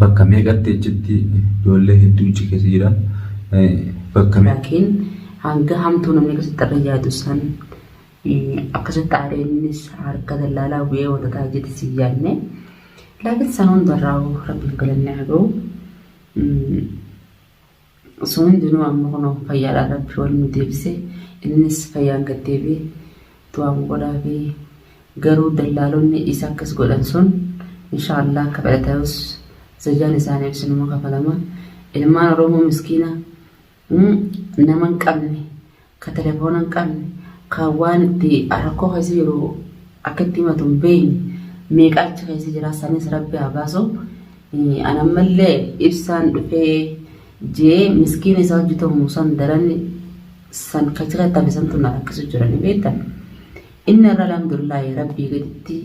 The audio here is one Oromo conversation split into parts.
Bakka meeqatti achitti ijoollee hedduu achi keessa jira. Bakka Laakiin hanga hamtuu namni akkasitti irra yaadu san akkasitti aaree innis harka dallaalaa bu'ee wanta ta'a jedhe si yaadne. Laakiin san hundarraa rabbiin galanni haa ga'u. Sun hundinuu amma kunoo fayyaadhaan Rabbi wal nu deebise. Innis fayyaan gad deebi'e. Du'aan godhaafi. Garuu dallaalonni isa akkas godhan sun inshaa Allah akka fedha ta'us zajaan isaaniif isinuma kafalama. Ilmaan Oromoo miskiina nama hin qabne ka telefoona hin qabne, ka waan itti rakkoo keessa jiru akka itti himatu hin beekne meeqa achi keessa jira sanis rabbi haa baasu. An ammallee ibsaan dhufee jee miskiina isaa hojjetamu san daran san kachi keessa tafe santu na rakkisu jira ni beektan. Inni irra alhamdulillahi rabbii gaditti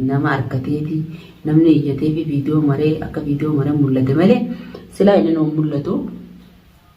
nama argateeti namni iyyatee fi viidiyoo maree akka viidiyoo maree mul'ate malee silaa inni nu mul'atu.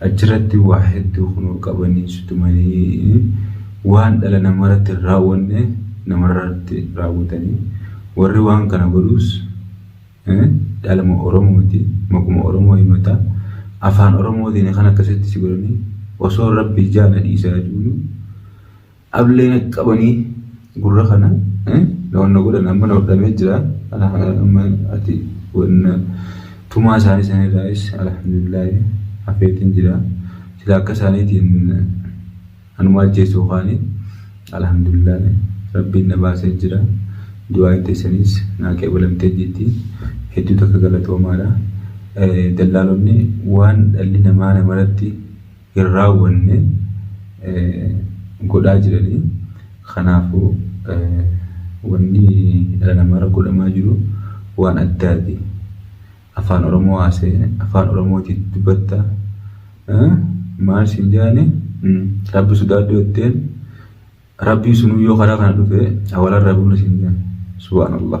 Achiratti waa hedduu kunoo qabanii si tumanii waan dhala namarratti hin raawwanne namarratti raawwatanii warri waan kana godhuus dhaluma Oromooti maquma Oromoo himata afaan Oromootiin kan akkasitti si godhanii osoo Rabbi ijaa na dhiisaa jechuun Ablee na qabanii gurra kana na wanna godhan amma na hodhamee jira amma ati wanna tumaa isaanii san irraayis alhamdulillaahi hafeetiin jira sila akka isaaniitiin anuma ajjeesuu kaanii alhamdulillaahi rabbiin na baasee jira du'aa itti isaniis naa qeebalamtee jirti hedduu takka galatoomaadha dallaalonni waan dhalli namaa namaratti hin raawwanne godhaa jiranii kanaafu wanni dhala namaarra godhamaa jiru waan addaati afaan oromoo haasa'e afaan oromootiin dubbatta maal siin jaani rabbi sodaadhu jetteen rabbii sunuu yoo karaa kana dhufe awalan rabuuna siin jaani subhaanallah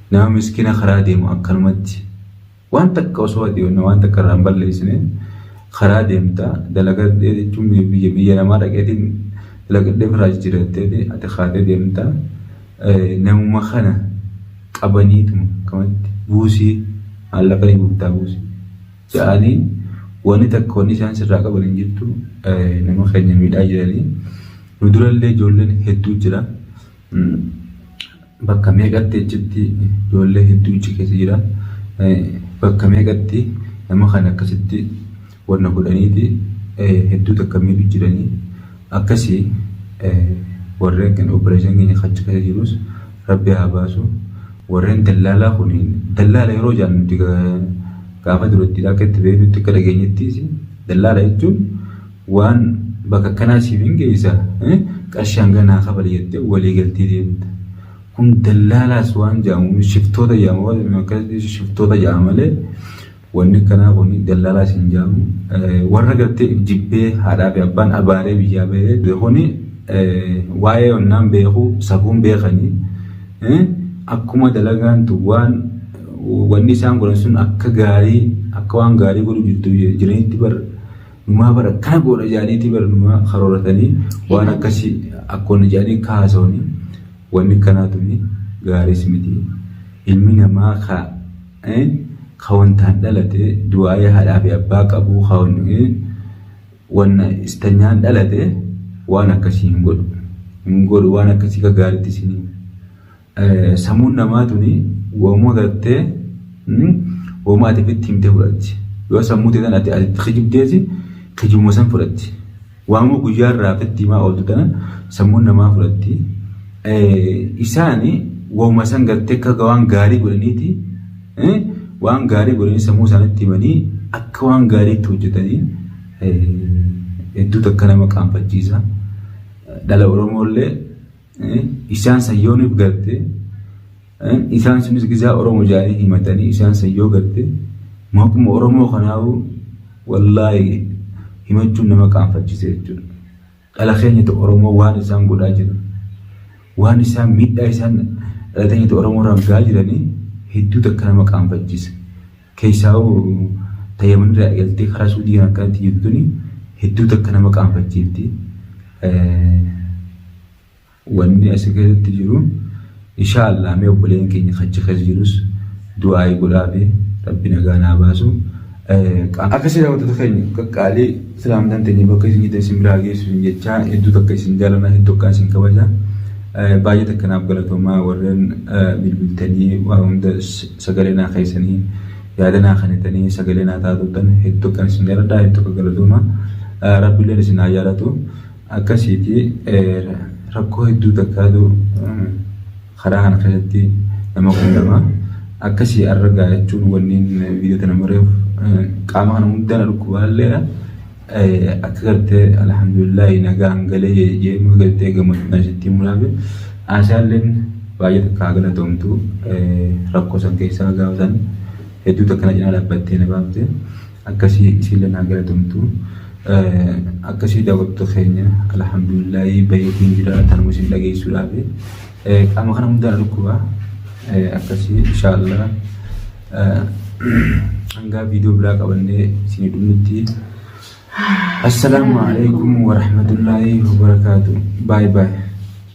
Nama miskina karaa deemu akkanumatti waan takka osoo ati waan takka irraa hin balleessine karaa deemta dalagadhee jechuun biyya biyya namaa dhaqeetiin dalagadhee ofirraa jijjiirattee ati kaatee deemta namuma kana qabaniituma akkamatti buusii maallaqa ni guurtaa buusii ja'anii wanni takka wanni isaan sirraa qaban hin jirtu nama keenya miidhaa jiranii nu durallee ijoolleen hedduu jira. bakka meeqatti achitti ijoollee hedduu achi keessa jira. Bakka meeqatti nama kana akkasitti wanna godhaniiti hedduu takka miidhu jiranii akkasii warreen kan opereeshin keenya achi keessa jirus rabbi haa baasu. Warreen dallaalaa kun dallaala yeroo jaan nuti gaafa duratti akka itti beeknutti akka dhageenyettiis dallaala jechuun Waan bakka akkanaa siif hin geessa eh? qarshii hanga naa kabali jettee walii galtee deemta. Kun dallaalaas waan jedhamu shiftoota jedhama waan jedhamu akkasitti shiftoota jedhama malee wanni akkanaa kun dallaalaas hin jedhamu. Eh, Warra gartee if jibbee haadhaa fi abbaan abaaree biyyaa bahee dhufe kuni eh, waa'ee onnaan beeku safuun beekanii eh, akkuma dalagaan tun waan wanni isaan godhan sun akka gaarii akka waan gaarii godhu jirtu jiranitti bar Numaa bara akkana goona ijaaniitii bara numaa karooratanii waan akkasii akkoon ijaanii kaasawanii wanni kanaa tuni gaariis miti. Ilmi namaa ka ka wantaan dhalate du'aa'ee haadhaa fi abbaa qabuu ka wanna istanyaan dhalate waan akkasii hin godhu. Hin godhu waan akkasii ka gaariitti isin Samuun namaa tuni wamuu gartee wamuu ati fitti himtee fudhatti. Yoo sammuu ta'e ati ati kijibdeeti kijibuma san fudhatti. Waamuu guyyaa irraa fitti himaa ooltu tana sammuun namaa fudhatti. Isaani wamuma san gartee akka waan gaarii godhaniiti waan gaarii godhanii sammuu isaanitti himanii akka waan gaariitti hojjetanii hedduutu akka nama qaanfachiisa. Dhala Oromoo illee Isaan san yoo nuuf galte isaan sunis gizaa Oromoo jaanii himatanii isaan san yoo galte maquma Oromoo kanaawu wallaahi himachuun nama qaanfachise jechuudha. Dhala keenyatu Oromoo waan isaan godhaa jiru waan isaan miidhaa isaan dhala keenyatu Oromoo irraan gahaa jiranii hedduu takka nama qaanfachise. Keessaahuu ta Yaman irraa eegaltee karaa Suudiin akkanatti jirtu tuni hedduu takka nama qaanfachiifti. Wanni asi keessatti jiru inshaa Allah mee obboleen keenya kachi keessa jirus du'aa'ii godhaafi rabbi nagaan haa baasu. Akkasii daawwattoota keenya qaqqaalii islaamtaan teenya bakka isin jirtan isin biraa geessu isin jechaa hedduu takka isin jaalana hedduu akkaan isin kabaja. Baay'ee takka naaf galatoomaa warreen bilbiltanii waa hunda Sagalee naa keessanii yaada naa kenitanii sagalee naa taa turtan heddu akkan isin jaladha heddu akka galatooma rabbileen isin haa jaalatu akkasiiti rakkoo hedduu takkaatu karaa kana keessatti nama qunnama akkasii arra gaa jechuun wanniin viidiyoo tana mareef qaama kana hundaa na dhukkubaalleedha akka gartee alhamdulillahi nagaan galee jeemuu gartee gammachuun asitti muraame aashaalleen baay'ee takka haa galatoomtu rakkoo san keessaa gaafa san hedduu takka na cinaa dhaabbattee na baafte akkasii isiilleen haa galatoomtu akkasii daawwattu keenya alhamdulillahi bayeetiin jira tanuma isin dhageessuudhaafi qaama kana hundaan dhukkuba akkasii inshaallah hangaa viidiyoo biraa qabannee isinii dhumnutti assalaamu alaikum warahmatullaahi wabarakaatu baay baay